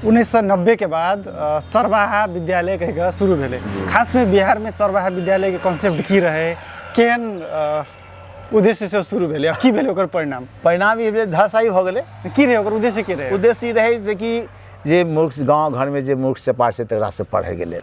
उन्नीस सौ नब्बे के बाद चरवाहा विद्यालय कह शुरू भेले खास में बिहार में चरवाहा विद्यालय के कॉन्सेप्ट की रहे केन उद्देश्य से शुरू भेले की भेले ओकर परिणाम परिणाम ये भेले धराशायी हो गए की रहे ओकर उद्देश्य की रहे उद्देश्य रहे जे कि जे मूर्ख गाँव घर में जे मूर्ख से पाठ से तकरा से पढ़े के लेल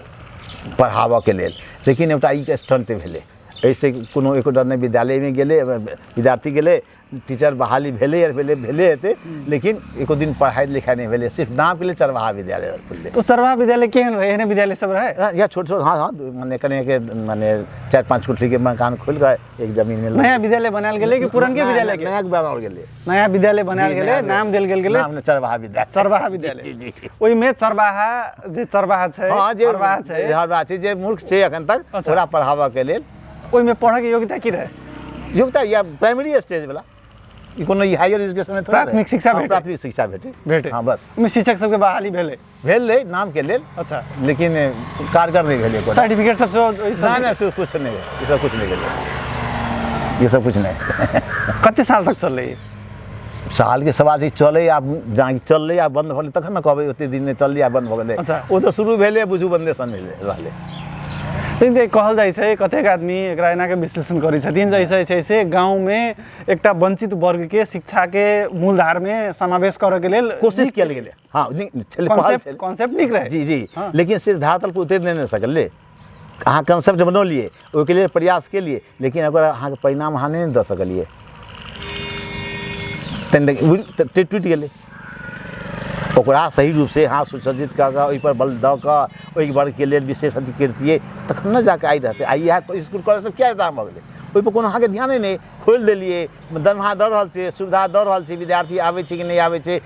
पढ़ाबऽ के लेल लेकिन एटा ई स्टंट भेले ऐसे कोनो एको डर नहीं विद्यालय में गेले विद्यार्थी गेले टीचर बहाली भेले यार भेले भेले हेते लेकिन एको दिन पढ़ाई लिखाई नहीं भेले सिर्फ नाम के लिए चरवाहा विद्यालय खुलले तो सरवा विद्यालय केहन रहे एहने विद्यालय सब रहे हाँ, या छोट छोट हाँ हाँ माने कने के माने चार पांच कोठरी के मकान खुल गए एक जमीन में नया विद्यालय बनायल गेलै कि पुरनके नया- विद्यालय के नया बनाओल गेले नया विद्यालय बनायल जी, गेलै नया नाम देल गेल गेलै नाम ने चरवाहा विद्यालय चरवाहा जी, जी, विद्यालय जी। ओहिमे चरवाहा जे चरवाहा छै हाँ जे चरवाहा छै हर बात छै जे मूर्ख छै अखन तक अच्छा। ओकरा पढ़ाबऽ के लेल ओहिमे पढ़ैके योग्यता की रहे योग्यता या प्राइमरी स्टेज वाला ई कोनो ई हायर एजुकेशन में थोड़े रहे। प्राथमिक शिक्षा हाँ, भेटे। प्राथमिक शिक्षा भेटे भेटे हाँ बस ओहिमे शिक्षक सबके बहाली भेलै भेल रहे नाम के लेल अच्छा लेकिन कारगर नहीं भेल एको सर्टिफिकेट सब सेहो ओहि सब- ना ना से कुछ नहीं ये सब कुछ नहीं भेल ये सब कुछ नहीं कते साल तक चललै ई? साल के सवाल छै चले आ जहाँ चलले आ बंद भले तखन ने कहबै ओते दिन में चलले आ बंद भऽ गेलै अच्छा। ओ तऽ शुरू भेलै बुझू बंदे सन भेलै रहलै लेकिन जे कहल जाइ छै कतेक आदमी एकरा एना के विश्लेषण करै छथिन जैसे छै से गाँव में एकटा वंचित वर्ग के शिक्षा के मूलधार में समावेश करऽ के लेल कोशिश कयल गेलै हाँ नीक छलै पहल कॉन्सेप्ट छलै कॉन्सेप्ट नीक रहै जी जी हाँ। लेकिन सिर्फ धरातल पर उतरि नहि ने सकलै अहाँ कंसेप्ट बनौलिए ओहिके लेल प्रयास केलिए लेकिन ओकर अहाँके परिणाम अहाँ नहि ने दऽ सकलिए तहन देखियौ, उड़ि- त- त- टूटि गेलै ओकरा सही रूपसँ अहाँ सुसज्जित कऽ कऽ ओहिपर बल दऽ कऽ ओहि वर्गके लेल विशेष अथी करितियै तखन ने जाकऽ आइ रहतै आइ इएह तऽ इसकुल कॉलेज सब किया एतऽ भऽ गेलै ओहिपर कोनो अहाँके ध्याने नहि खोलि देलियै दरमाहा दऽ रहल छै सुविधा दऽ रहल छै विद्यार्थी आबै छै कि नहि आबै छै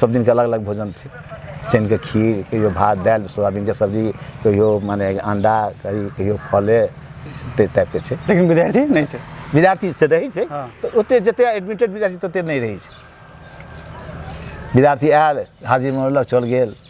सब दिन के अलग अलग भोजन छै शनि के खीर कहियो भात दालि सोयाबीन के सब्जी कहियो माने अंडा कहियो कहियो फले ताहि टाइप के छै लेकिन विद्यार्थी नहि छै विद्यार्थी से रहै छै हँ। तऽ ओते जते एडमिटेड विद्यार्थी तते नहि रहै छै विद्यार्थी आयल हाजिर मनौलक चल गेल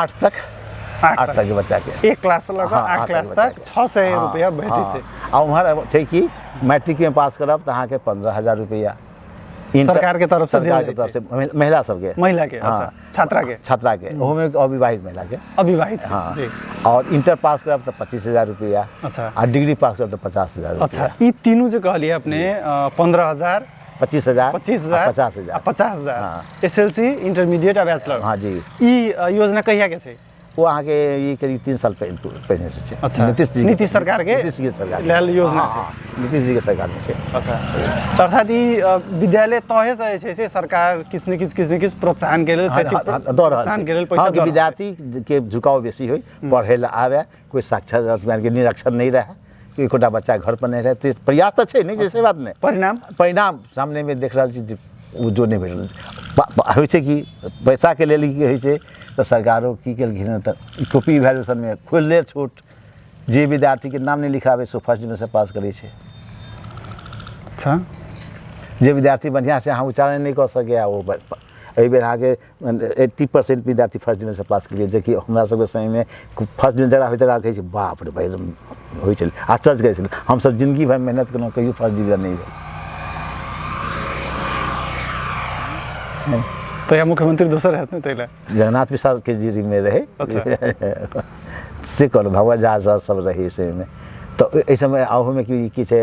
आठ तक आठ आठ तक। तक के बच्चा के एक क्लास से लऽ कऽ हाँ, आठ आठ क्लास तक तक बच्चा के। छः सौ हाँ, रुपया भेटै हाँ। छै आ उम्हर छै कि मैट्रिक में पास करब तऽ अहाँके पंद्रह हजार रुपया इंटर- सरकार के तरफ से देल सरकार के जाइ तरफ से महिला- महिला सबके महिला के, हाँ, अच्छा, छात्रा के। छात्रा के ओहोमे अविवाहित महिला के अविवाहित हाँ जी और इंटर पास करब तऽ पच्चीस हजार रुपया अच्छा। आ डिग्री पास करब तऽ पचास हजार अच्छा रुपया ई तीनू जे कहलियै अपने पंद्रह हजार पच्चीस हजार पच्चीस हजार आ पचास हजार आ पचास हजार हाँ। एस एल सी इंटरमीडिएट आ बैचलर हाँ जी ई अ, योजना कहिया के छै वो अहाँ के ये करीब तीन साल पहले पहले से छे अच्छा। नीतीश जी के- नीतीश सरकार के नीतीश जी के सरकार के। लेल योजना हाँ, छे। हाँ, नीतीश जी के सरकार में छे अच्छा तऽ अर्थात ई अ, विद्यालय तहे से जे छै से सरकार किछु ने किछु किछु ने किछु प्रोत्साहन के लेल हाँ, शैक्षिक हाँ, हाँ, दऽ रहल प्रोत्साहन के लेल छै पैसा अहाँके दऽ रहल छै। विद्यार्थी के झुकाव बेसी होय पढ़ै लए आबे कोइ साक्षर अथी मानि कऽ निरक्षर नहि रहए कि एकोटा बच्चा घर पर नहि रहए तऽ प्रयास तऽ छै नहि छै से बात नहि परिणाम परिणाम सामनेमे देख रहल छी जे ओ जो नहि भेटल पा- पा- होइ छै कि पैसाके लेल की होइ छै तऽ सरकारो की केलखिन हँ तऽ ई कॉपी वैल्यूशनमे खोलले छूट जे विद्यार्थीके नाम नहि लिखाबै से फर्स्ट डिवीजनसँ पास करै छै अच्छा जे विद्यार्थी बढ़िआँसँ अहाँ उच्चारण नहि कऽ सकैए ओ ब- ब- एहि बेर अहाँके एट्टी परसेंट विद्यार्थी फर्स्ट डिवीजनसँ पास केलियै जेकि हमरा सबके समयमे फर्स्ट डिवीजन जकरा होइत रहै छै बाप रे भाई होइ छलै आश्चर्य करै छलै हमसब जिंदगी भरि मेहनत केलहुँ कहियो फर्स्ट डिवीजन नहि भेल तहिया मुख्यमंत्री दोसर रहत ने ताहि जगन्नाथ प्रसाद के जीरीमे रहै अच्छा। से कहलहुँ भगवत झा सब रहै से तऽ एहि समय आहोमे की छै